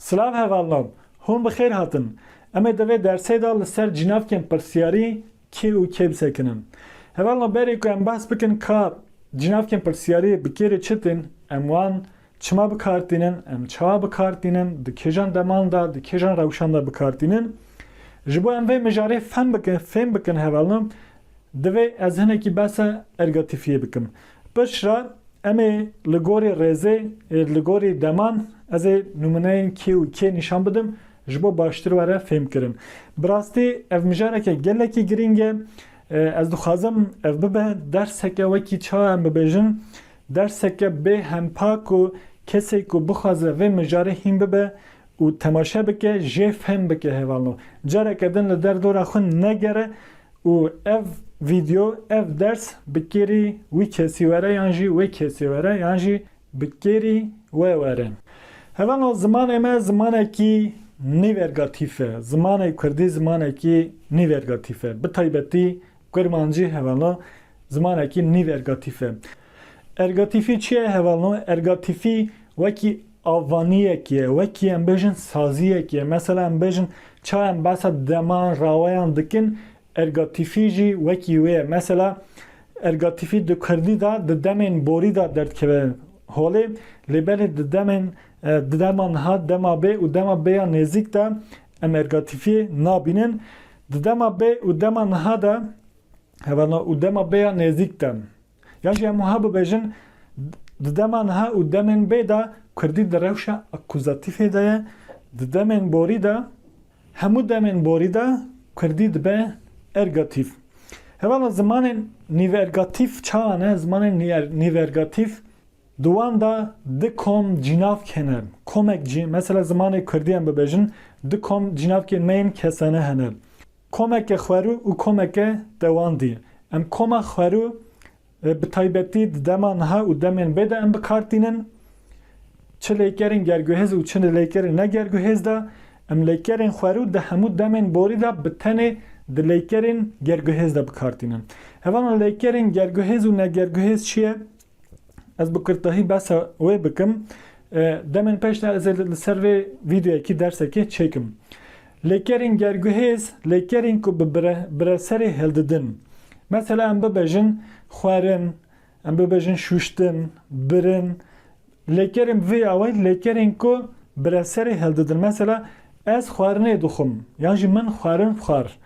Silav hevalnan, hûn bi xêr hatin. Em ê di vê dersê de li ser cînavkên pirsiyarî kê û kê bisekinin. Hevalno berê ku em behs bikin ka cînavkên pirsiyarî bi kê re çi tên, em wan Çima bi kar tînin, em çawa bi kar tînin, di kêjan deman de, di kêjan rewşan de bi kar tînin. Ji bo em vê mijarê fehm bikin, fêm bikin hevalno, divê ez hinekî behsa ergatîfiyê bikim. Piştre em ê li gorî rêzê, li gorî deman ez ê nûmineyên kê û kê nîşan bidim ji bo baştir were fêm kirin. Bi rastî ev mijareke gelekî girîng e. Ez dixwazim ev bibe derseke wekî çawa em bibêjin Derseke bê hempa ku kesê ku bixwaze vê mijarê hîn bibe û temaşe bike jê fehm bike hevalno. Careke din li der dora xwe negere û ev vîdyo, ev ders bi kêrî wî kesî were yan jî wê kesê were yan jî bi kêrî we were. Hevalno zimanê me zimanekî nîvergatîf e. Zimanê kurdî zimanekî nîvergatîf e. Bi taybetî Kurmancî hevalno zimanekî nîv-ergatîf e. Ergatîfî çi ye hevalno? Ergatîfî wekî avvaniyek ye, wekî em bêjin saziyek ye. Mesela em bêjin ça em behsa deman, raweyan dikin, ergatîfî jî wekî wê ye. Mesela ergatîfî di kurdî de di demên borî de derdkeve holê lê belê di demên dema niha, dema bê û dema bêya nêzîk de em ergatîfî nabînin. Di dema bê û dema niha de heva na û dema bê ya nêzîk de. Yan jî hemû ha bibêjin di dema niha û demên bê de kurdî di rewşa akuzatîfê de ye, di demên borî de hemû demên borî de kurdî dibe ergatîf. Heva na zimanên nîvergatîf çawa ne? Zimanên nîvergatîf. Di wan de di kom cînavk hene. Komek cî, mesela zimanê kurdî em bibêjin, di kom cînavkê me yên kesane hene. Komeke xwerû û komeke dewandî. Em koma xwerû bi taybetî di dema niha û demên bê de em bi kar tînin. Çi lêkerên gerguhêz û çi lêkerên ne gerguhêz de. Em lêkerên xwerû di hemû demên borî de bi tenê di lêkerên gerguhêz de bi kar tînin. Hevalên lêkerên gerguhêz û ne gerguhêz çi ye? Ez bi kurtahî behsa wê bikim. Demên pêş de ez ê li ser vê vîdeoyekî dersekê çêkim. Lêkerên gerguhêz, lêkerên ku bi bireserê hil didin. Mesela em bibêjin xwerin, em bibêjin şûştin, birin. Lêkerên bi vê awayî lêkerên ku bireserê hil didin. Mesela ez xwerinê dixwim yan jî min xwerin xwar.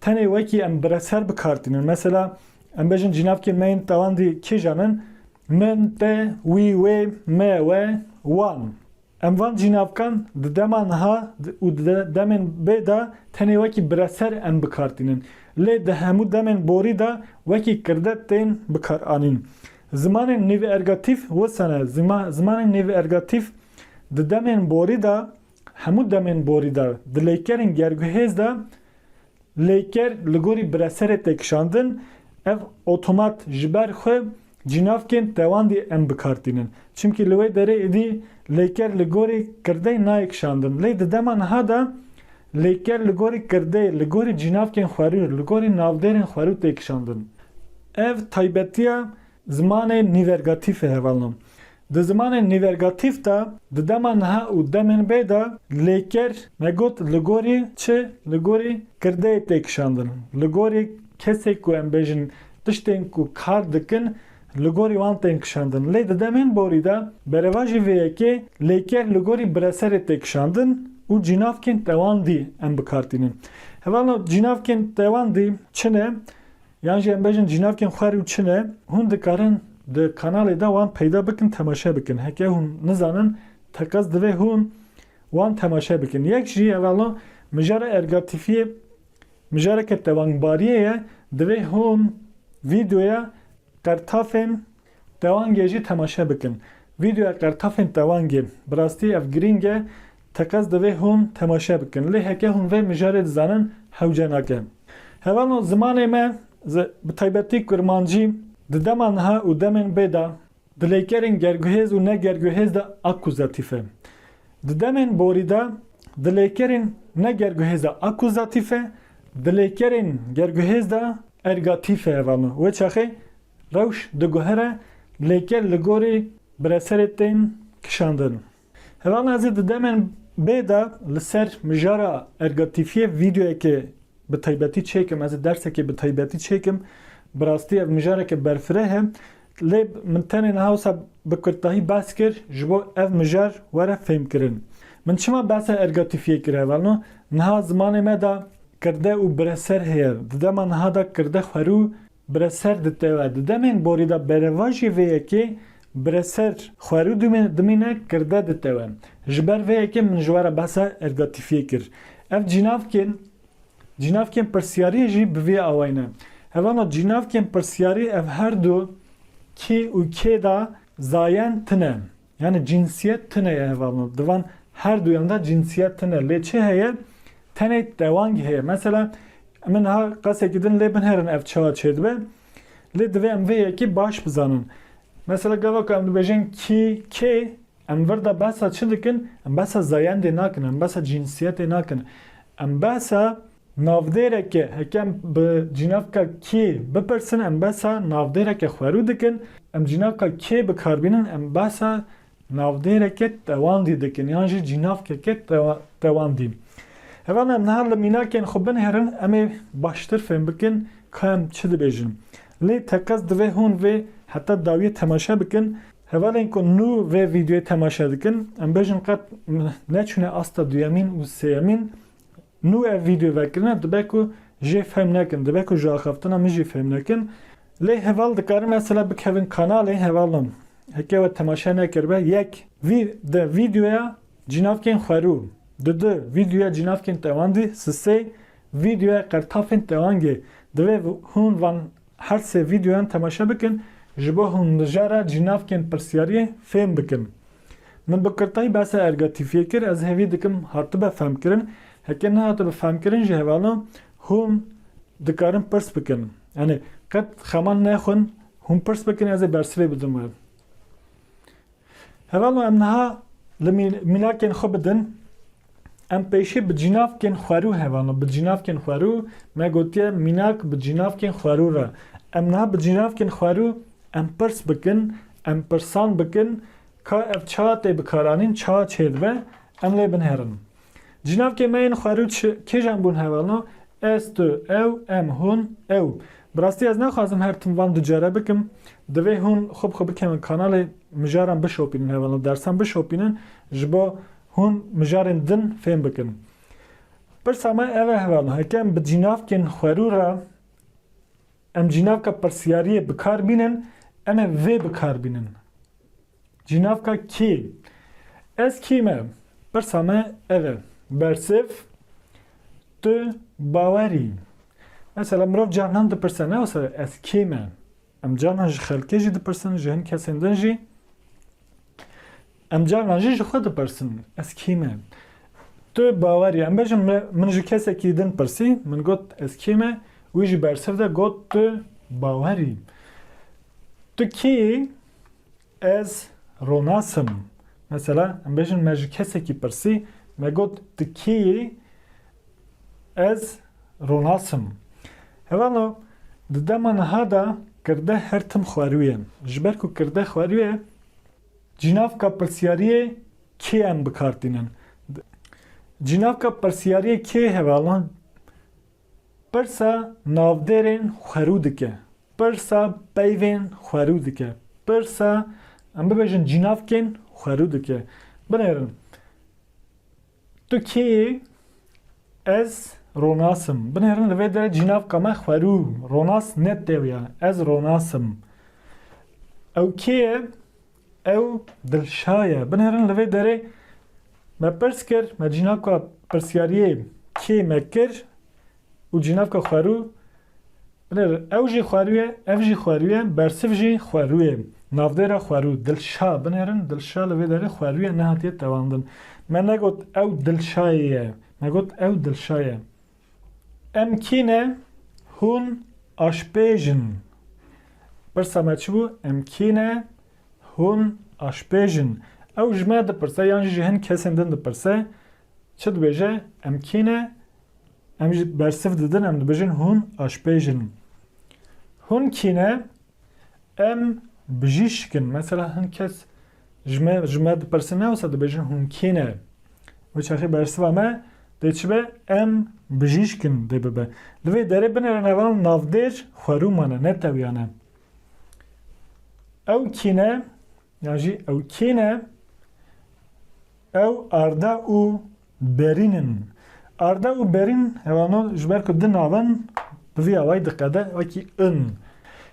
Tenê wekî em bireser bikartînin. Mesela em bêjin cînavkê me yên tewandî kêjan in? Min, te, wî, wê, me, we, wan. Em van cînavkan di dema niha û di demên bê de tenê wekî bireser em bikartînin. Lê di hemû demên borî de wekî kirde tên bikaranîn. Zimanên nêvergatîf wisa ne, zimanên nêvergatîf di demên borî de Hemû demên borî de di lêkerên gerguhêz de lêker li gorî bireserê tê kişandin, ev otomat ji ber xwe cînavkên tewandî em bikar tînin. Çimkî li wê derê êdî lêker li gorî kirdeyê nayê kişandin. Lê di dema niha de lêker li gorî kirdeyê, li gorî cînavkên xwerû, li gorî navdêrên xwerû tê kişandin. Ev taybetiya zimanê nîvergatîfê hevalno. Di zimanên nîvergatîf de di dema niha û demên bê de lêker ne got li gorî çi li gorî kirdeyê tê kişandin, li gorî kesê ku em bêjin tiştên ku kar dikin li gorî wan tên kişandin. Lê di demên borî de berevajî vê yekê lêker li gorî bireserê tê kişandin û cînavkên tewandî em bi kar tînin. Hevalno cînavkên tewandî çi ne? Yan jî em bêjin cînavkên xwer û çi ne, hûn dikarin di kanalê de wan peyda bikin temaşe bikin. Heke hûn nizanin teqez divê hûn wan temaşe bikin. Yek jî hevalo mijara ergatîfiyê mijareke tevangbariyê ye, divê hûn vîdeoya qertafên Tewangê jî temaşe bikin. Vîdeoya qertafên tewangê, bi rastî ev girîng e, teqez divê hûn temaşe bikin. Lê heke hûn vê mijarê dizanin hewce nake. Hevano zimanê me, bi taybetî kurmancî, di dema niha û demên bê de, di lêkerên gerguhêz û ne gerguhêz de akuzatîf e. Di demên borî de, di lêkerên ne gerguhêz de akuzatîf e, di lêkerên gerguhêz de ergatîf e. Hevano wê çaxê Rewş diguhere lêker li gorî bireserê tên kişandin. Heval Azê di demên bê de li ser mijara ergatifiyê vîdeoyekê bi taybetî çêkim, ez ê dersekê bi taybetî çêkim. Bi rastî ev mijareke berfireh e. Lê min tenê niha wisa bi kurdtahî behs kir ji bo ev mijar were fêmkirin. Min çima behsa ergatifiyê kir heval no? Niha zimanê me de kirde û bireser heye. Di dema niha de kirde xwerû Bi re ser ditewe. Di demên borî de berevajî vê yekê bi re ser xwerû dimîne, kirde ditewe. Ji ber vê yekê min ji we re behsa ergatifiyê kir. Ev cînavkên cînavkên pirsiyariyê jî bi vî awayî ne. Hevano cînavkên pirsiyarî ev her du kî û kê de zayen tune. Yanî cînsiyet tune ye hevalno. Di van her duyan de cînsiyet tune. Lê çi heye? Tenê dewangî heye. Mesela min niha qesekî din lê binêrin ev çiha çêdibe. Lê divê em vê yekî baş bizanin. Mesela gava ku em dibêjin kî, kê, em vir de behsa çi dikin? Em behsa zayendê nakin, em behsa cînsiyetê nakin. Em behsa Navdêreke hekem bi cînavka kê bipirsin em behsa navdêreke xwerû dikin, em cînavka kê bikarbînin em behsa navdêreke tewandî dikin yan jî cînavkeke tewandî. Heva me em niha li mînakên xwe binihêrin em ê baştir fêm bikin ka em çi dibêjin. Lê teqez divê hûn vê heta dawiyê temaşe bikin. Hevalên ku nû vê vîdeoyê temaşe dikin em bêjin qet neçûne asta duyemîn û sêyemîn. Nû ev vîdeo vekirine dibe ku jê fehm nekin, dibe ku ji axaftina min jî fehm nekin. Lê heval dikarin mesela bikevin kanalê heval nan. Heke we temaşe nekiribe yek vî di vîdeoya cînavkên xwerû, di du vîdeoya cînavkên tewandî, si sê vîdeoya qertafên tewangê divê hûn van Her sê vîdeoyan temaşe bikin, ji bo hûn mijara cînavkên pirsyariyê fêm bikin. Min bi kirtayî behsa ergatifiyê kir, ez hêvî dikim hatibe femkirin, heke nehatibe femkirin ji hevalo hûn dikarin pirs bikin. Yanî qet xema nexwin hûn pirs bikin ez ê bersivê bidim we. Heva ma em niha li mînakên xwe bidin, em pêşî bi cînavkên xwerû heva ma bi cînavkên xwerû me gotiye mînak bi cînavkên xwerû re. Em niha bi cînavkên xwerû em pirs bikin, em pirsan bikin ka ev çawa tê bikaranîn, çawa çêdibe, em lê binêrin. Cinavkê me yên xwerûç kêjan bûn hevalno, ez, tu, ew, em, hûn, ew. Bi rastî ez naxwazim her tim van du care bikim. Divê hûn xwe bi xwe bikevin kanalê, mijaran bişopînin hevalno, dersan bişopînin ji bo hûn mijarên din fêm bikin. Pirsa me ev e hevalno, heke em bi cinavkên xwerû re em cinavka pirsiyariyê bikar bînin, em ê vê bikar bînin. Ji navka kî? Ez kî me? Pirsa me ev e. Bersiv, Tu bawer î. Mesela mirov carnan dipirse ne wisa ez kî me? Em carnan ji xelkê jî dipirsin, ji hin kesên din jî. Em carnan jî ji xwe dipirsin ez kî me? Tu bawer î. Em bêjin min ji kesekî din pirsî, min got ez kî me, wî ji bersiv de got tu bawer î. Tu kî yî? Ez ronas im. Mesela em bêjin me ji kesekî pirsî, me got tu kê yî? Ez ronas im. Hevalo di dema niha de kirde her tim xweriye. Ji ber ku kirde xweriye cînavka pirsiyariyê kê em bikar tînin. Cînavka pirsiyariyê kê hevalo Pirsa navdêrên xwerû dike, pirsa peyvên xwerû dike, pirsa em bibêjin cînavkên xwerû dike. Binêrin, Tu kê yî? Ez Ronas im. Binêrin li vê derê cînavka me xwerû, Ronas ne têw ya, ez Ronas im. Ew kê ye? Ew dilşa ye. Binêrin li vê derê me pirs kir, me cînaka pirsyariyê kê me kir û cînaka xwerû binêr ew jî xwerû ye, ev jî xwerû ye, bersiv jî xwerû ye. Navdêra xwerû, dilşa. Binêrin dilşa li vê derê xwerû ye, nehatiye tewandin. Me negot ew dilşayê ye, me got ew dilşa ye. Em kî ne? Hûn aşpêj in. Pirsa me çi bû? Em kî ne? Hûn aşpêj in. Ew ji me dipirse yan jî ji hin kesên din dipirse çi dibêje? Em kî ne? Em jî bersiv didin em dibêjin hûn aşpêj in. Hûn kî ne? Em bijîşk in. Mesela hin kes ji me ji me dipirsin ne wisa dibêjin hûn kê ne? Wê çaxê bersiva me dê çi be? Em bijîşk in dê bibe. Li vê derê binêre nevan navdêr xwerûman e ne tewiyan e. Ew kî ne? Yan jî ew kê ne? Ew arda û Berînin. Arda û berîn hevano ji ber ku di navin bi vî awayî diqede wekî in.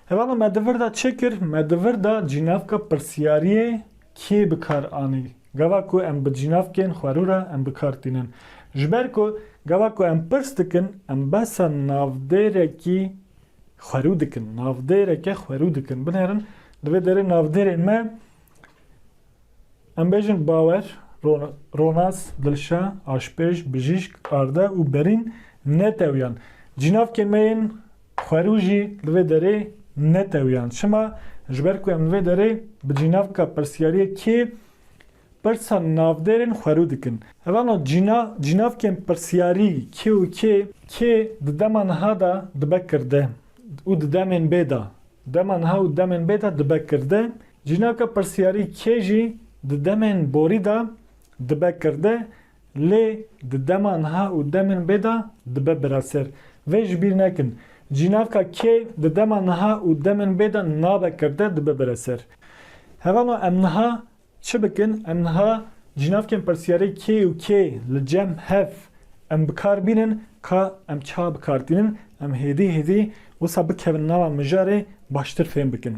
Hevala me di vir de çi kir? Me di vir de cînavka pirsiyariyê kê bi kar anî? Gava ku em bi cînavkên xwe rû re em bi kar tînin. Ji ber ku gava ku em pirs dikin em behsa navdêrekî xwe rû dikin. Navdêreke xwe rû dikin. Binêrin di vê derê navdêrê me. Em bêjin bawer, ronas, dilşa, aşpêj, bijîşk, arde û berîn netewiyan. Cînavkê me yên xwerû jî li vê derê netewiyan. Çima? Ji ber ku em li vê derê bi cînavka pirsiyariyê kê pirsa navdêrên xwerû dikin. Hevano cîna, cînavkên pirsiyarî kê û kê, kê di dema niha de dibe kirde û di demên bê de, dema niha û demên bê de dibe kirde, Jinaka pirsyarî kê jî di demên borî de dibe kirde lê di dema niha û demên bê de dibe biraser. Vê ji bîr nekin. Jinaka kê di dema niha û demên bê de nabe kirde dibe biraser. Hevano em niha çi bikin? Em niha jinavkên pirsyarê kê û kê li cem hev em bi kar bînin ka em çawa bi kar tînin em hêdî hêdî wisa bikevin nava mijarê baştir fêm bikin.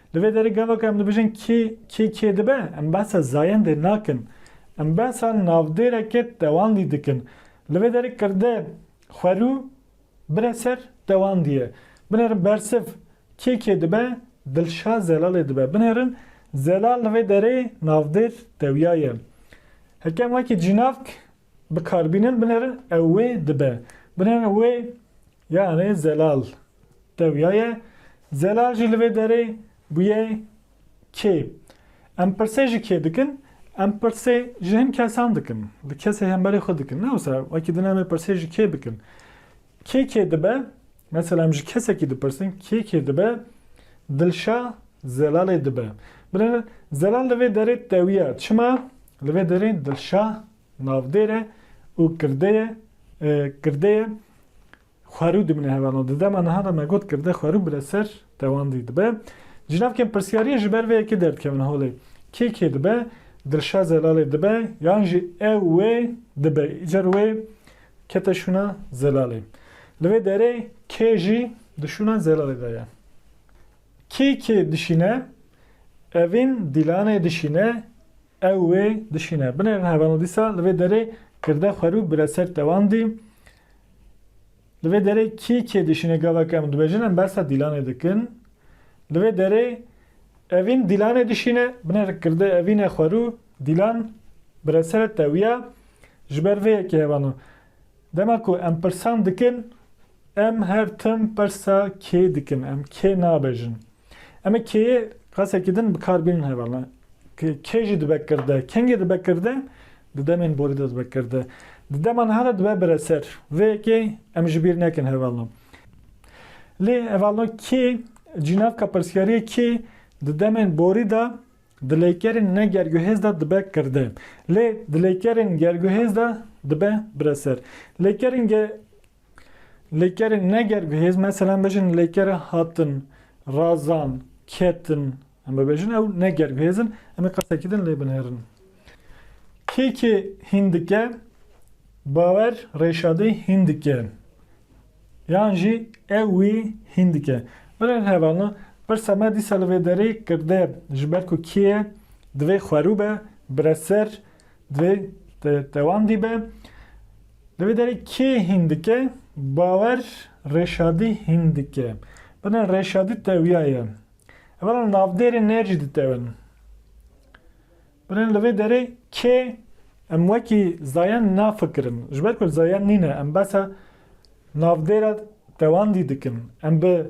Li vê derê gava ku em dibêjin kê kê kê dibe, em behsa zayendê nakin. Em behsa navdêreke tewandî dikin. Li vê derê kirde xwerû bire ser tewandî ye. Binêrin bersiv kê kê dibe, Dilşad Zelalê dibe. Binêrin Zelal li vê derê navdêr tewya ye. Heke em wekî cînavk bikarbînin binêrin ew wê dibe. Binêrin wê Yanê Zelal tewya ye. Zelal jî li vê derê bûye kê. Em pirsê ji kê dikin? Em pirsê ji hin kesan dikin. Li kesê hemberê xwe dikin. Ne wisa wekî din em ê pirsê ji kê bikin. Kê kê dibe? Mesela em ji kesekî dipirsin kê kê dibe? Dilşa Zelalê dibe. Binêrin Zelal li vê derê tewya. Çima? Li vê derê Dilşa Navdêr e û kirde ye, kirde ye xwerû dimîne hevalon. Di dema niha de me got kirde xwerû bile ser tewandî dibe. Jinavkên pirsyariyê ji ber vê yekê derdikevin holê. Kê kê dibe? Dilşad Zelalê dibe yan jî ew wê dibe? Îcar wê kete şûna Zelalê. Li vê derê kê jî di şûna Zelalê de ye. Kê kê dişîne? Evîn Dîlanê dişîne, Ew wê dişîne. Binê re hevano dîsa li vê derê kirde xwe rû bire ser tewandî. Li vê derê kî kê dişîne gavek em dibêjin em bersa Dîlanê dikin. Li vê derê Evîn Dîlanê dişîne. Binê re kirde Evîn e xwe rû. Dîlan bire ser e tewiya. Ji ber vê yekê hevano. Dema ku em pirsan dikin em her tim persa kê dikin em kê nabêjin. Em ê kê qesekî din bi kar bînin heval ne. Kê jî dibe kirde, kengê dibe kirde, di demên borî de dibe kirde. Di dema niha de dibe bireser. Vê yekê em ji bîr nekin heval ne. Lê heval ne kê, cînavka pirsiyariyê kê di demên borî de di leykerên ne gerguhêz de dibe kirde. Lê di leykerên gerguhêz de dibe bireser. Leykerên Lêkerên ne ger bi hêz mesela em bêjin lêkere hatin, razan, ketin em bibêjin ew ne ger bi hêz in em ê qesekî din lê binêrin. Kê kê hîn dike bawer rêşadê hîn dike yan jî ew wî hîn dike. Birên hevalna pirsa me dîsa li vê derê kirde ji ber ku kê ye divê xwerû be, bireser divê tewandî be. Li vê derê kê hîn dike? Bawer Rêşadî hîn dike. Bine Rêşadî tewiya ye. Evara li navdêrê ne jî ditewin. Bine li vê derê kê em wekî zayan nafikirin. Ji ber ku zayan nîne em behsa navdêra tewandî dikin. Em bi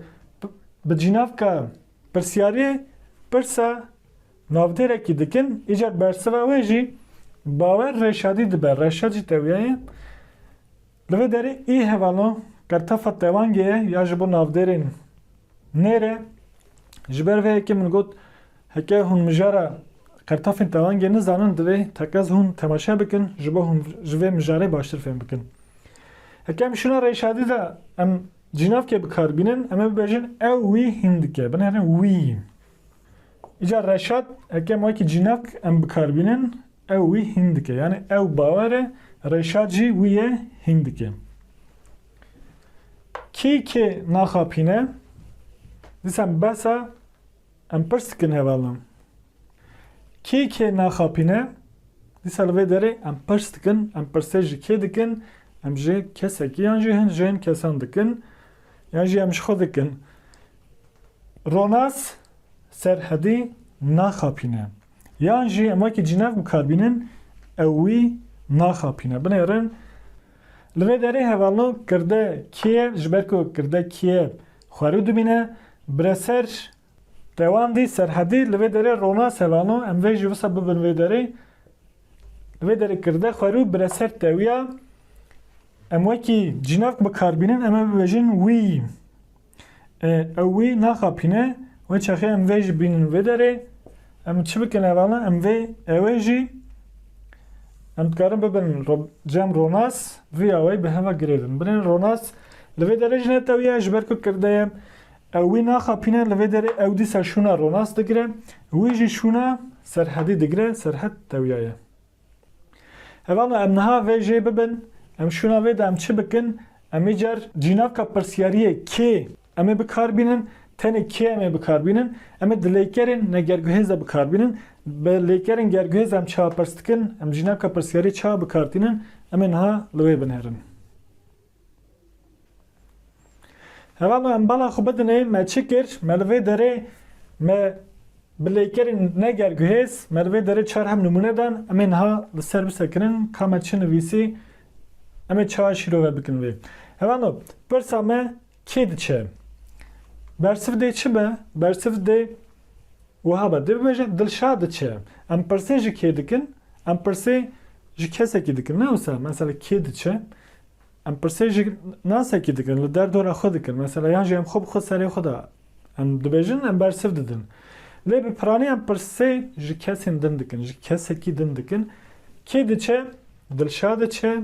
bi cînavka Pirsyariyê pirsa navdêrekî dikin, îcar bersiva wê jî bawer Reşadî dibe. Reşad jî tewiyaye. Li vê derê ê hevalo qertafa tewangê ye ya ji bo navdêrên nêre. Ji ber vê yekê min got heke hûn mijara qertafên tewangê nizanin divê teqez hûn temaşe bikin ji bo hûn ji vê mijarê baştir fêm bikin. Heke em şûna Reşadî de em Cinavkê bi kar bînin em ê bibêjin ew wî hîn dike. Binêrin wî. Îcar Reşat eke em wekî cinavk em bi kar bînin ew wî hîn dike. Yanî ew bawer e Reşat jî wî yê hîn dike. Kî kê naxapîne dîsan behsa Em pirs dikin hevalan. Kê kê naxapîne? Dîsa li vê derê em pirs dikin, em pirsê ji kê dikin? Em ji kesekî yan jî hin ji hin kesan dikin yan jî em ji xwe dikin. Ronas Serhedî naxapîne. Yan jî em wekî cînev bikarbînin ew wî naxapîne. Binêrin Li vê derê hevalno kirde kiye ji ber ku kirde kiye xwerû dibîne, bire ser Tewandî, Serhedî li vê derê ronas hevalno em vê jî wisa bibin vê derê. Li vê derê kirde xwerû bire ser Tewiya. Em wekî cînak bikar bînin em ê bibêjin wî. Ew wî naxapîne wê çaxê em vê jî bînin vê derê. Em çi bikin evana em vê ewê jî em dikarin bibin cem ronas riya wê bi heva girêdin. Binên ronas li vê derê jî netewiye ji ber ku kirdeye ew wî naxapîne li vê derê ew dîsa şûna ronas digire wî jî şûna serhedî digire serhed tewiyaye. Hevalo em niha vê jê bibin, em şûna vê de em çi bikin, em îcar cînaka pirsiyariyê kê em ê bikar bînin, tenê kê em ê bikar bînin, em ê di lêkerên negerguhêz de bikar bînin, bi lêkerên gerguhêz de em çawa pers dikin, em cînaka pirsiyariyê çawa bikar tînin, em ê niha li wê binêrin. Heva me em bala xwe bidinê, me çi kir, me li vê derê me bi lêkerên ne ger guhêz, me li vê derê çar hem nimûne dan, em ê niha li ser bisekirin ka me çi nivîsî, em ê çawa şîrove bikin vê. Heva me pirsa me kê diçe? Bersiv dê çi be? Bersiv dê wiha be, dê bibêje Dilşad diçe. Em pirsê ji kê dikin? Em pirsê ji kesekî dikin ne wisa? Mesela kê diçe? Em pirsê ji nasekî dikin, li derdora xwe dikin, mesela yan jî em xwe bi xwe serê xwe de em dibêjin, em bersiv didin. Lê bi piranî em pirsê ji kesên din dikin, ji kesekî din dikin. Kê diçe? Dilşad diçe.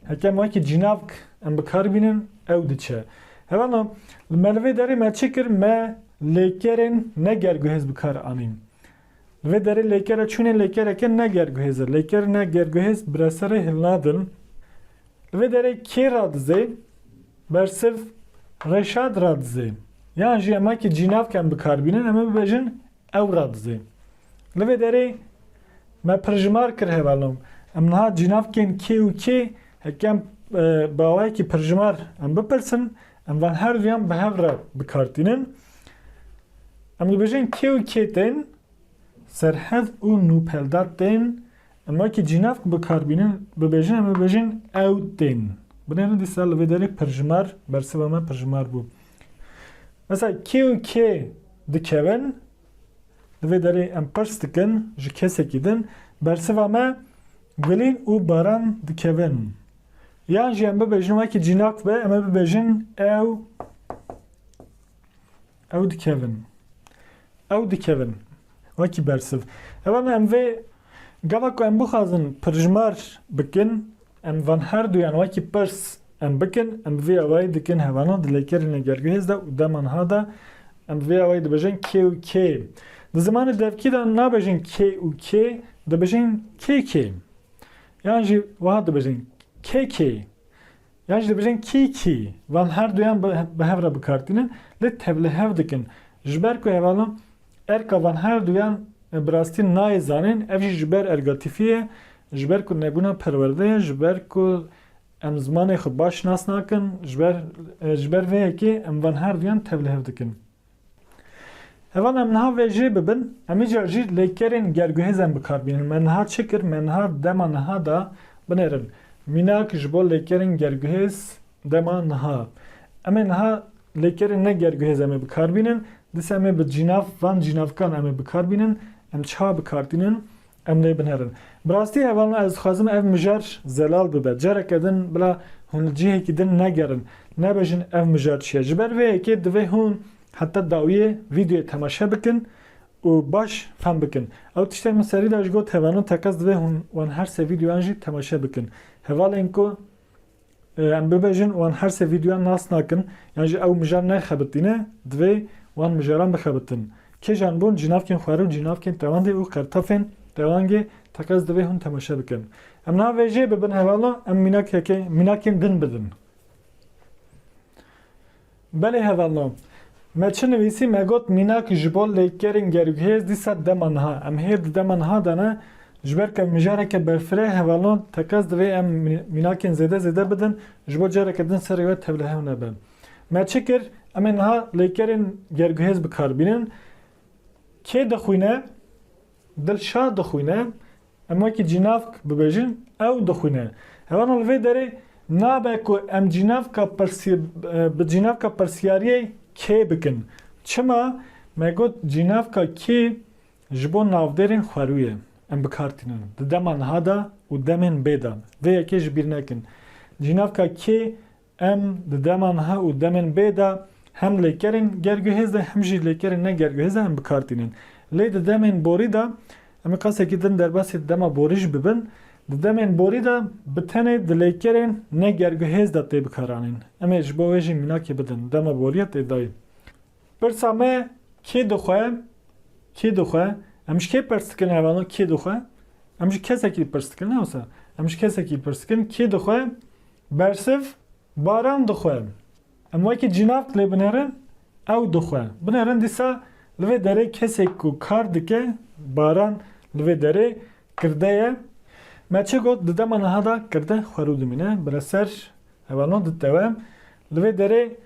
Heke em wekî cînavk em bi kar bînin, ew diçe. Hevano li me li vê derê me çi kir? Me lêkerên ne ger guhêz bi kar anîn. Vê derê lêkere çûnê lêkereke ne gerguhêz e. Lêker ne gerguhêz bi reserê hilnadin. Li vê derê kê radizê? Bersiv Reşad radizê. Yan jî ema ki cînavk em bikarbînin em ê bibêjin ew radizê. Li vê derê me pirjimar kir hevalnom. Em niha cînavkên kê û kê heke em bawayekî pirjimar em bipirsin Em van her duyan bi hev re bi kar tînin. Em dibêjin kê û kê tên, serhed û nûpeldat tên. Em wekî cînavk bi kar bînin, bibêjin em dibêjin ew tên. Binêrin dîsa li vê derê pirjimar, bersiva me pirjimar bû. Mesela kê û kê dikevin, li vê derê em pirs dikin ji kesekî din, bersiva me gulîn û baran dikevin. Yan jî em bibêjin wekî cînak be em ê bibêjin ew ew dikevin. Ew dikevin. Wekî bersiv. Ev em em vê gava ku em bixwazin pirjmar bikin em van her duyan wekî pirs em bikin em bi vê awayî dikin hevana dilêkerîne gergehêz de û dema niha de em bi vê awayî dibêjin kê û kê. Di zimanê devkî de nabêjin kê û kê dibêjin kê kê. Yan jî wiha dibêjin KK yan jî dibêjin KK. Van her duyan bi hev re bikar tînin lê tev li hev dikin. Ji ber ku hevalin erka van her duyan bi rastî nayê zanîn ev jî ji ber erga tîfî ye, ji ber ku nebûna perwerde ye, ji ber ku em zimanê xwe baş nas nakin, ji ber ji ber vê yekê em van her duyan tev li hev dikin. Heval em niha vê jê bibin, em îcar jî lêkerên gerguhêzen bi kar bînin. Me niha çi kir? Me niha dema niha da binêrin. Mînak ji bo lêkerên gerguhêz dema niha. Em ê niha lêkerên ne gerguhêz em ê bi kar bînin. Dîsa em ê bi cînav van cînavkan em ê bi kar bînin. Em çiha bi kar tînin? Em lê binêrin. Bi rastî hevalno ez dixwazim ev mijar zelal bibe. Careke din bila hûn li cihekî din negerin, nebêjin ev mijar çi ye. Ji ber vê yekê divê hûn heta dawiyê vîdeoyê temaşe bikin û baş fehm bikin. Ew tiştên min serî de ji got hevalno teqez divê hûn wan her sê vîdeoyan jî temaşe bikin. Hevalên ku Em bibêjin wan her sê vîdyoyan nas nakin, yan jî ew mijar nexebitîne, divê wan mijaran bixebitin. Kêjan bon, cînavkên xwarin, cînavkên tewandê û qertafên tewangê teqez divê hûn temaşe bikin. Em niha vê jê bibin hevala, em mînakeke mînakên din bidin. Belê hevalo. Me çi nivîsî me got mînak ji bo lêkerên gerûkhêz dîsa dema niha em hê di dema niha de ne ji ber ku ev mijareke berfirê hevalo teqez divê em mînakên zêde zêde bidin ji bo careke din serê we tevlihev nebe. Me çi kir em ê niha lêkerên gerûkhêz bikar bînin. Kê dixwîne? Dilşad dixwîne. Em wekî cînavk bibêjin ew dixwîne. Hewana li vê derê nabe ku em cînavka bi cînavka pirsiyariyê kê bikin. Çima? Me got cînavka kî ji bo navdêrên xwerû ye. Em bi kar tînin di dema niha de û demên bê de. Vê yekê ji bîr nekin. Cînavka kê Em di dema niha û demên bê de hem lêkerên gerguhêz e hem jî lêkerên ne gerguhêz e em bi kar tînin. Lê di demên borî de em ê qasekî din derbasî dema borî jî bibin. Di demên borî de bi tenê di lêkerên ne gerguhêz de tê bikaranîn. Em ê ji bo wê jî mînakê bidin. Dema borî ya tê dayîn. Pirsa me kê dixwe? Kê dixwe? Em ji kê pers dikin ev ena kê dixwe? Em ji kesekî li pirs dikin ne wisa? Em ji kesekî li pirs dikin kê dixwe? Bersiv baran dixwe. Em wekî cînav dilê binerin ew dixwe. Binerin dîsa li vê derê kesek ku kar dike baran li vê derê Kirde ye. Me çi got di dema niha de kirde xwerû dimîne. Bi re ser heva no ditewe. Li vê derê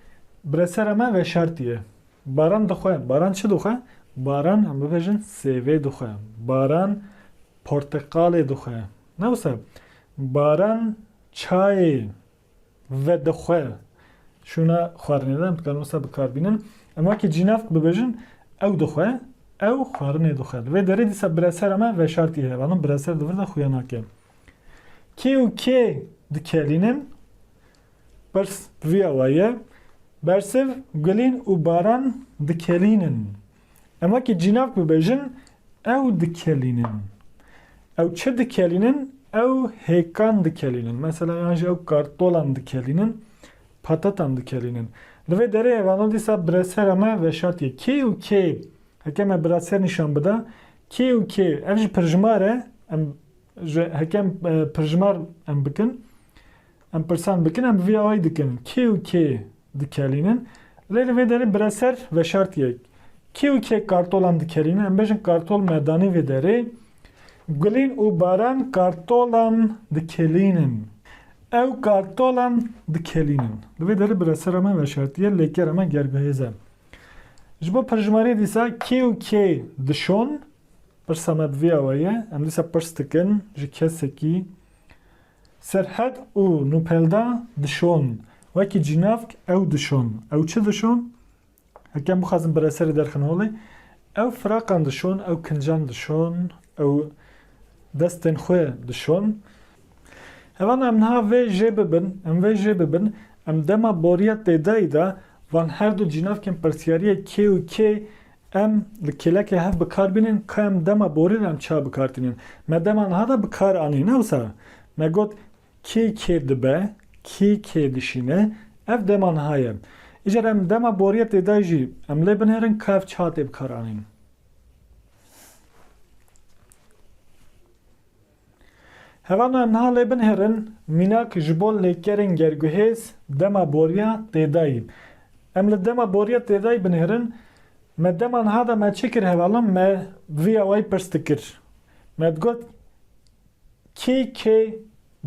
bi re sera me veşartî ye. Baran dixwe. Baran çi dixwe? Baran em bibêjin sêvê dixwe. Baran porteqalê dixwe. Ne wisa? Baran çayê. Vedixwe şûna xwarinê de em dikarin wisa bikar bînin. Em wekî cînav bibêjin ew dixwe, ew xwarinê dixwe. Li vê derê dîsa biresera me veşartî heye. Banan bireser di vir de xuya nake. Kê û kê dikelînin? Pirs via waye. Bersiv, Gulîn û Baran dikelînin. Em wekî cînak bibêjin ew dikelînin. Ew çi dikelînin? Ew hêkan dikelînin. Mesela yan jî ew kartolan dikelînin, patatan dikelînin. Li vê derê ev ano dîsa biresera me veşartîye. Kê û kê, heke me biraser nîşan bida, kê û kê, ev ji pirjimar e, em ji heke em pirjimar em bikin, Em pirsan bikin, em bi vî awayî dikin, kê û kê dikelînin? Lê li vê derê bire ser veşartiyek, kê û kê kartolan dikelînin? Em bêjin kartol me danî vê derê, Gulîn û Baran kartolan dikelînin. Ew kartolan dikelînin. Li vê derê biresera me veşartiye, lêkera me gerguhêz e. Ji bo pirjimariyê dîsa kê û kê dişon? Pirsa me bi vî awayî ye, em dîsa pirs dikin ji kesekî, Serhed û Nûpelda dişon. Wekî cînavk ew dişon. Ew çi dişon? Hekem bixwazin bi reserê derxin holê. Ew firaqan dişon, ew kincan dişon, ew destên xwe dişon. Hevana em niha vê jê bibin, em vê jê bibin, em dema boriya têdayî de van her du cînavkên pirsiyariyê kê û kê Em li kêlekê hev bi kar bînin ka em dema borî re em çawa bi kar tînin. Me dema niha de bi kar anî ne wisa. Me got kê kê dibe, kê kê dişîne ev dema niha ye. Îcar em dema borî ye tê de jî em lê binêrin ka ev çawa tê bi kar anîn. Hevana niha lê binêrin, mînak ji bo lêkerên gerguhêz dema boriya têdayî. Em li dema boriya têdayî binêrin, me dema niha de me çi kir hevala me vî awayî pirs dikir. Me digot kî kê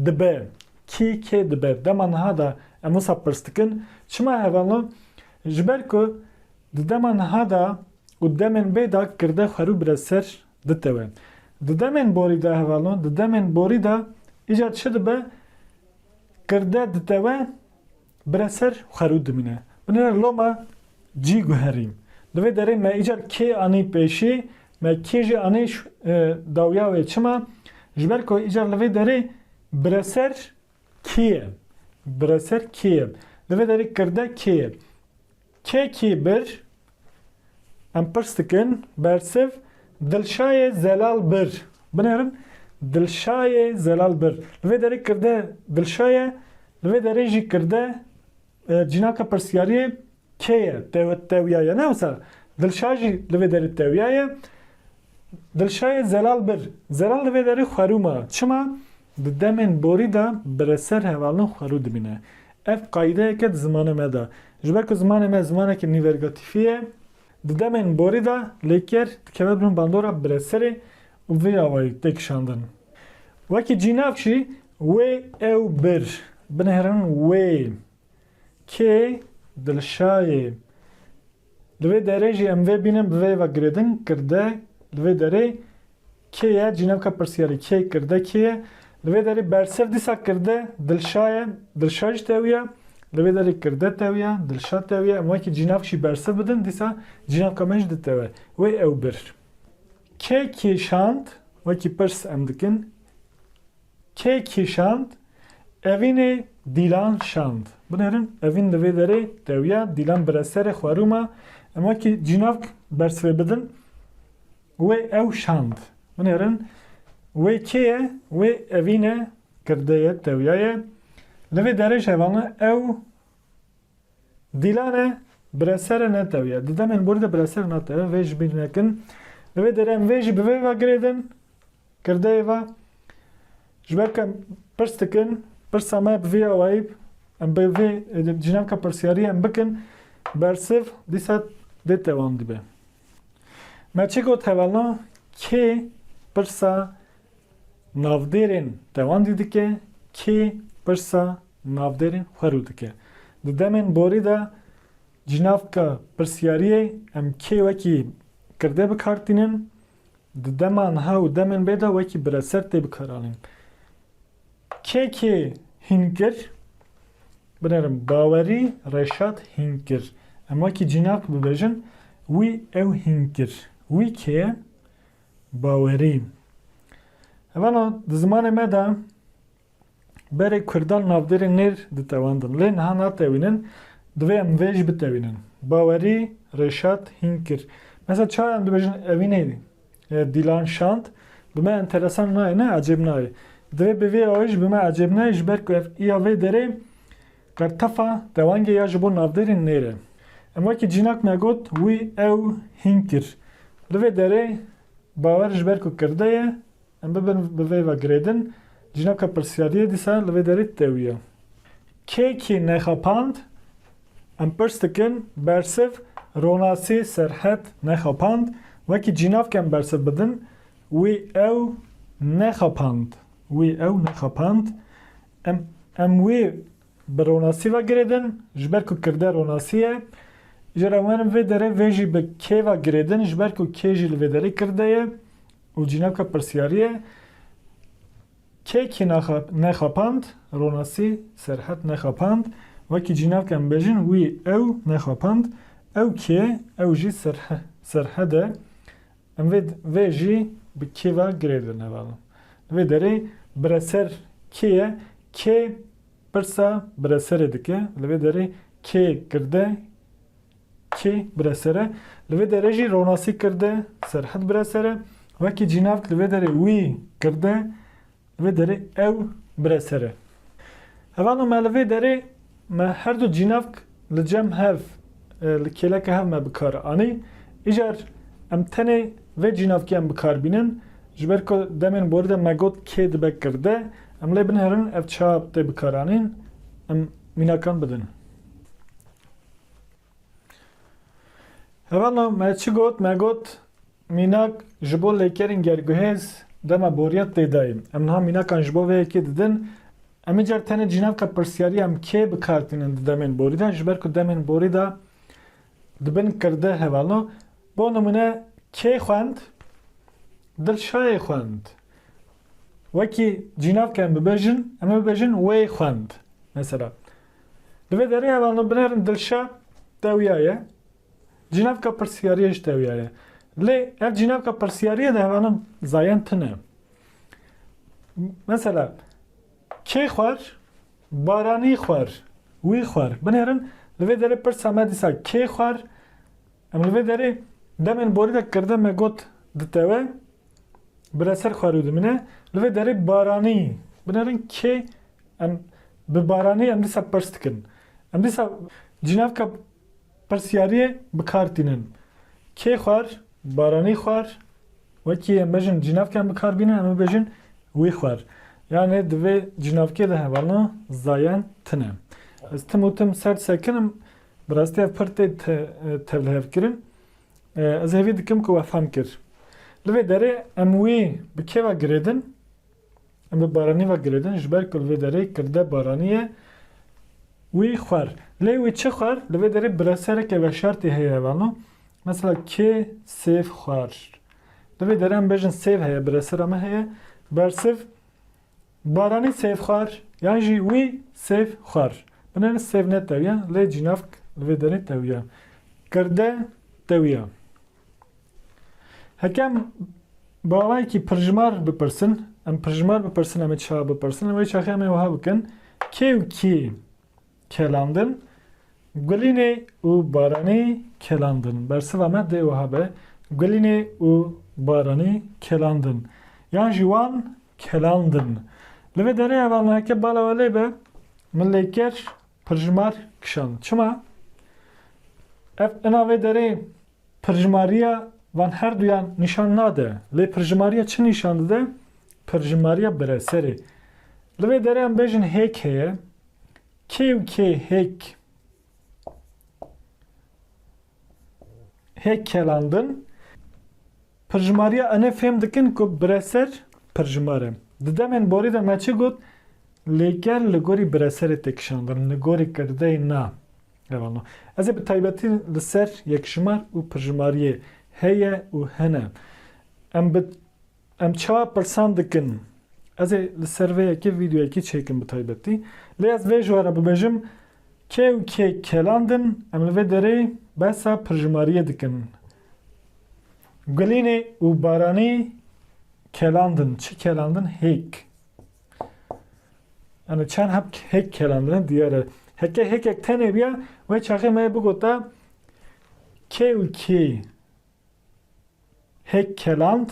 dibe, kî kê dibe. Dema niha de em wisa pirs dikin. Çima hevala? Ji ber ku di dema niha de û demên bê de kirde xwerû bire ser Ditewe. Di demên borî de hevalno, di demên borî de îcar çi dibe, kirde ditewe, bire ser û xerû dimîne. Binêre loma cî guherîn. Di vê derê me îcar kê anî pêşî, me kê jî anî dawiya wê. Çima? Ji ber ku îcar li vê derê bire ser kê ye. Bire ser kê ye. Li vê derê kirde kê ye. Kekî Bir, Em pirs dikin, bersiv, Dilşayê Zelal Bir. Binêrin, Dilşayê Zelal Bir. Li vê derê kirde Dilşa ye, li vê derê jî kirde cînaka pirsiyariyê kê ye, tewya ye. Ne wisa Dilşa jî li vê derê tewya ye. Dilşayê Zelal Bir. Zelal li vê derê xwerûma. Çima? Di demên borî de bi re ser hevalin xwerû dimîne. Ev qayîdeyeke di zimanê me de. Ji ber ku zimanê me zimaneke nîvergatîfî ye, di demên borî de lêker dikeve bin bandora bi re serê û vê awayî tê kişandin. Wekî cînav jî wê, ew, bir, binihêrin wê, kê, dilşayê, Li vê derê jî em vê bînin bi vê ve girêdin, kirde, li vê derê kê ye cînevka pirsiyarê, kê kirde kê ye? Li vê derê bersiv dîsa kirde Dilşa ye, Dilşa jî tevî ye, li vê derê kirde tevî ye, Dilşa tevî ye, em wekî cînevk jî bersiv bidin dîsa cînevka me jî ditewe. Wê ew bir. Kê kêşand? Wekî pirs em dikin. Kê kî şand? Evînê Dîlan şand. Binêrin, Evîn li vê derê dewiya, Dîlan bi re serê xwe rû ma. Em wekî cînavk bersivê bidin. Wê ew şand. Binêrin, Wê kê ye? Wê evîne girdê ye, dewiya ye. Li vê derê jevana ew. Dîlane bi re sere netewiye. Di demên borî de bi re sere natewe. Vê ji bîr nekin. Li vê derê em vê jî bi vê ve girêdin, kirdeyê ve. Ji ber ku em pirs dikin, pirsa me bi vê awayî, em bi vê jinaka pirsiyariyê em bikin, bersiv dîsa dê dewam dibe. Me çi got hevalna kê pirsa navdêrên dewandî dike, kê pirsa navdêrî xwe rû dike. Di demên borî de cînavka pirsiyariyê em kê wekî kirdê bi kar tînin, di dema niha û demên bê de wekî bireser tê bikaranîn. Kê kê hîn kir? Binêrin bawerî Reşat hîn kir. Em wekî cînav bibêjin wî ew hîn kir. Wî kê ye? Bawerî. Vana di zimanê me de Berê Kurdan navdêrê nêr ditewendin. Lê niha natewînin, divê em vê jî bitewînin. Bawerî Rêşat hîn kir. Mesela çawa em dibêjin evînê Dîlan şand, bi me enteresan nayê ne ecêb nayê. Divê bi vê awayî jî bi me ecêb neyê ji ber ku ev îya vê derê qertefa dewengê ya ji bo navdêrê nêr e. Em wekî cînak me got wî ew hîn kir. Li vê derê bawer ji ber ku kirde ye Em bibin bi vê ve girêdin. Cînoka pirsyariyê dîsa li vê derê tewiya. Kê kî nexapand? Em pirs dikin, bersiv, ronasî, serhet, nexapand. Wekî cînav ke em bersiv bidin, wî ew nexapand, wî ew nexapand. Em em wî bi ronasî ve girêdin, ji ber ku kirde ronasî ye. Îcar em werin vê derê vê jî bi kê ve girêdin, ji ber ku kê jî li vê derê kirde ye. Û cînaka pirsiyariyê kekî nexapand, ronasî Serhet nexapand, wekî cînak em bêjin wî ew nexapand, ew kê ew jî Serhed e, em vê vê jî bi kê ve girêde nevelin. Li vê derê bireser kê ye, kê pirsa bireserê dike, li vê derê kê girde, Kê bire ser e? Li vê derê jî ronasî kirde, Serhed bire ser e. Wekî cînavt li vê derê wî kirde, li vê derê ew bire ser e. Hevano me li vê derê me her du cînavk li cem hev, li kêleke hev me bi kar anî. Îcar em tenê vê cînavkiyan bi kar bînin. Ji ber ku demên borî de me got kê dibe kirde, em lê binêrin ev çawa tê bikaranîn, em mînakan bidin. Hevana me çi got? Me got mînak ji bo lêkerên gerguhêz dema boriyet tê dayîn. Em niha mînakan ji bo vê yekê didin. Em îcar tenê dicînin heqê pirsiyarî em kê bi kar tînin di demên borî de ji ber ku demên borî de di bin kirde hevana. Bo nimûne kê xwend? Dilşayê xwend. Wekî cînavke em bibêjin, em ê bibêjin wê xwend. Mesela. Di vê derê hevalno binêrin dilşa tewya ye, cînavka pirsiyariyê jî tewya ye. Lê ev cînavka pirsiyariyê de hevano zayen tune. Mesela kê xwer, baranî xwer, wî xwer. Binêrin li vê derê pirsa me dîsa kê xwer? Em li vê derê demên borî de kirde me got ditewe, bireser xwer û dimîne. Li vê derê baranî. Binêrin kê em Bi baranî em dîsa pirs dikin. Em dîsa cînavka pirsyariyê bi kar tînin. Kê xwar, baranî xwar, wekî em bêjin cînavka em bi kar bînin em ê bêjin wî xwar. Yanê di vê cînavkê de hevalno zayan tin e. Ez tim û tim ser sekinim, bi rastî ev pir tê tevlihevkirin. Ez hêvî dikim ku we fam kir. Li vê derê em wî bi kê ve girêdin? Em bi Baranî ve girêdin ji ber ku li vê derê kirde Baranî ye. Wî xwer. Lê wî çi xwer? Li vê derê biresereke veşartî heye vano. Mesela kê sêv xwer. Li vê derê em bêjin sêv heye, biresera me heye. Bersiv Baranî sêv xwer yan jî wî sêv xwer. Binêrin sêv ne tewiya lê cînavk li vê derê tewiya. Kirde tewiya. Hekem bawayekî pirjimar bipirsin, em pirjimar bipirsin, em ê çawa bipirsin? Wê çaxê em ê wiha bikin, kê û kî kelandin? Gulînê û Baranî kelandin. Bersiva me dê wiha be, Gulînê û Baranî kelandin. Yan jî wan kelandin. Li vê derê hevalna heke bala we lê be, min lê kir, Pirjimar kişand. Çima? Ev ina vê derê pirjimariya van her duyan nîşan nade. Lê pirjimariya çi nîşan dide? Pirjimariya bireserê. Li vê derê em bêjin hêk heye. Kê û kê hêk hê kelandin. Pirjimariya enê fêm dikin ku bireser pirjimar e. Di demên borî de me çi got? Lêker li gorî bireserê tê kişandin, li gorî kirdeyê na. Ev anû. Ez ê bi taybetî li ser yekjimar û pirjimariyê heye û hene. Em bi Em çawa pirsan dikin? Ez ê li ser vê yekê vîdeoyekî çêkim bi taybetî. Lê ez vê ji we re bibêjim, kê û kê keland in, em li vê derê behsa pirjimariyê dikin. Gulînê û Baranî keland in. Çi keland in? Hêk. Yani çend heb hêk keland in diyar e. Heke hêkek tenê biya, wê çaxê me yê bigota kê û kê Hêk keland,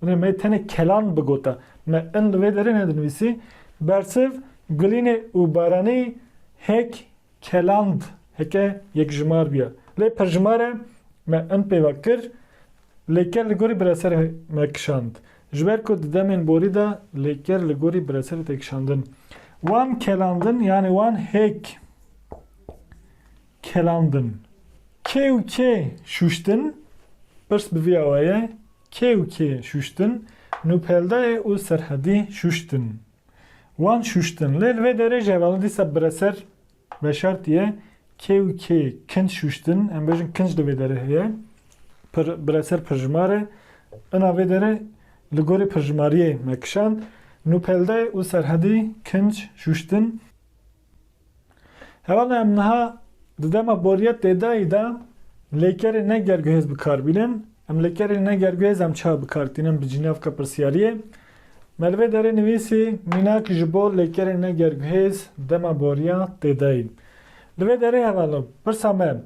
binê me tenê keland bigote. Me in li vê derê nedinivîsî, bersiv, gulînê û baranî hêk keland heke yekjimar bûye. Lê pirjimar e, me in pêva kir, lêker li gorî bireserê me kişand. Ji ber ku di demên borî de lêker li gorî bireserê tê kişandin. Wan kelandin yanê wan hêk Kelandin, kê û kê şûştin? Pirs bi vî awe ye, kê û kê şûştin? Nûpeldayê û Serhedî şûştin. Wan şûştin. Lê li vê derê jî hevalin dîsa bireser veşartî ye, kê û kê kinc şûştin? Em bêjin kinc li vê derê heye. Pir, bireser pirjimar e. Ina vê derê li gorî pirjimariyê me kişand. Nûpeldayê û Serhedî kinc şûştin. Herana em niha di dema boriyet têdayî de lêkerên ne gerguhêz bi kar bînin. Em lêkerên ne gerguhêz em çawa bi kar tînin bi cînevka pirsyariyê? Me li vê derê nivîsî mînak ji bo lêkerên ne gerguhêz dema boriya têdayî. Li vê derê hevalok pirsa me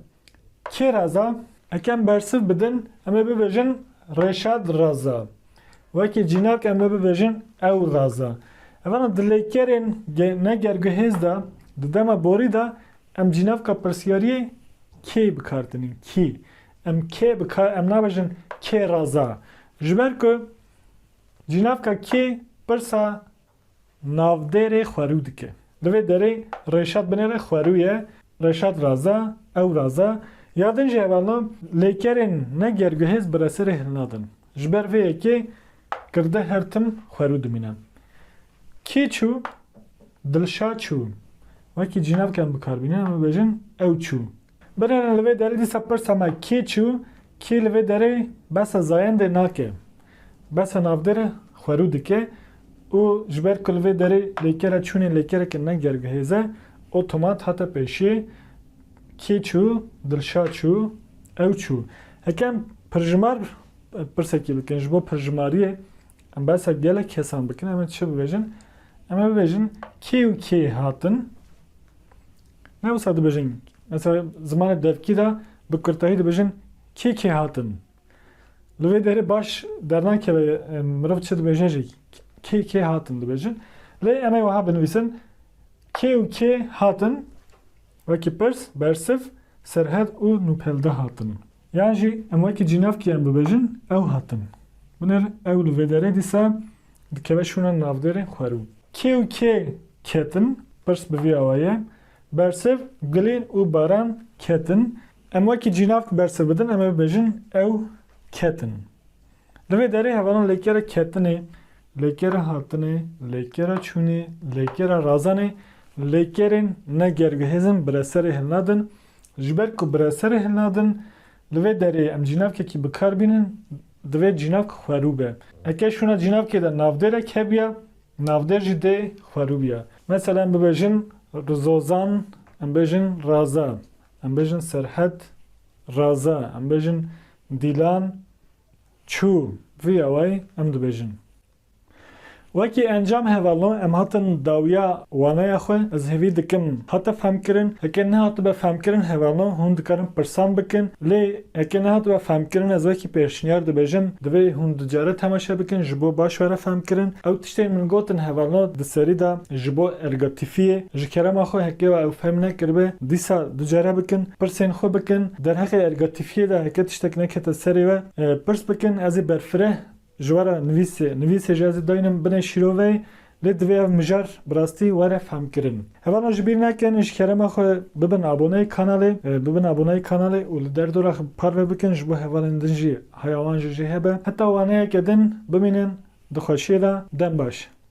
Kê raza? Ekem bersiv bidin em ê bibêjin Reşad raza. Wekî cînak em ê bibêjin ew raza. Evana di lêkerên ne gerguhêz de di dema borî de em cînavka pirsiyariyê kê bi kar tinîn, kî. Em kê bi kar em nabêjin kê raza. Ji ber ku cînavka kê pirsa Navdêrê xwerû dike. Li vê derê Reşat binê re xwerû ye, Reşat raza, ew raza. Ya din jî hevalna lêkerên ne gerguhêz bi reserê hilnadin. Ji ber vê yekê kirde her tim xwerû dimîne. Kî çû? Dilşad çû. Wekî cînavken bikar bîne em ê bêjin ew çû. Binêrin li vê derê dîsa pirsa me kê çû kê li vê derê behsa zayendê nake. Behsa navdir xwerû dike û ji ber ku li vê derê lêkere çûnê lêkereke ne gergihêz e otomat hate pêşê kê çû, Dilşad çû, ew çû. Heke em pirjimar pirsekî bikin ji bo pirjimariyê em behsa gelek kesan bikin em ê çi bibêjin? Em ê bibêjin kê û kê hatin Ne wisa dibêjin mesela zimanê devkî de bi kurtayî dibêjin kê kê hatin. Li vê derê baş dernakeve mirov çi dibêje jî kê kê hatin dibêjin. Lê em ê wiha binivîsin kê û kê hatin wekî pirs, bersiv, serhed û nûpelde hatin. Yan jî em wekî cînavkîyan bibêjin ew hatin. Binêr ew li vê derê dîsa dikeve şûna navdêrên xwerû. Kê û kê ketin? Pirs bi vî awa ye. Bersiv, gulên û baran ketin. Em wekî cînavk bersiv bidin em ê bibêjin ew ketin. Li vê derê hevalan lêkera ketinê, lêkera hatinê, lêkera çûnê, lêkera razanê, lêkerên ne gergihêzin bi re serê hilnadin, Ji ber ku bi re serê hin nadin, li vê derê em cînavkekî bi kar bînin, divê cînavk xwerû be. Eke şûna cînavkê de navdêrek hebiya, navdêr jî dê xwerû biya. Mesela em bibêjin Rizozan, em bêjin Raza, em bêjin Serhed Raza, em bêjin Dîlan çû, vî awayî em dibêjin. Wekî encam hevalno em hatin dawiya waneya xwe ez hêvî dikim hate fehmkirin, heke nehatibe fehmkirin hevalno hûn dikarin pirsan bikin lê heke nehatibe fehmkirin ez wekî pêşniyar dibêjim divê hûn ducare temaşe bikin ji bo baş were fehmkirin ew tiştên min gotin hevalno di serî de ji bo ergatîfiyê ji kerema xwe heke wa ew fehm nekiribe dîsa ducare bikin pirsên xwe bikin derheqê ergatîfiyê de heke tiştek nekete serê we pirs bikin ez ê berfireh Ji we re nivîsê. Nivîsê jî ez ê dayîn im binê şîrovê, lê divê ev mijar bi rastî were fehmkirin. Hevano ji bîr nekin ji kerema xwe bibin aboneyê kanalê, bibin aboneyê kanalê û li derdora xwe parve bikin ji bo hevalên din jî haya wan jî jê hebe. Heta waneyeke din bimînin di xweşiyê de. Dem baş.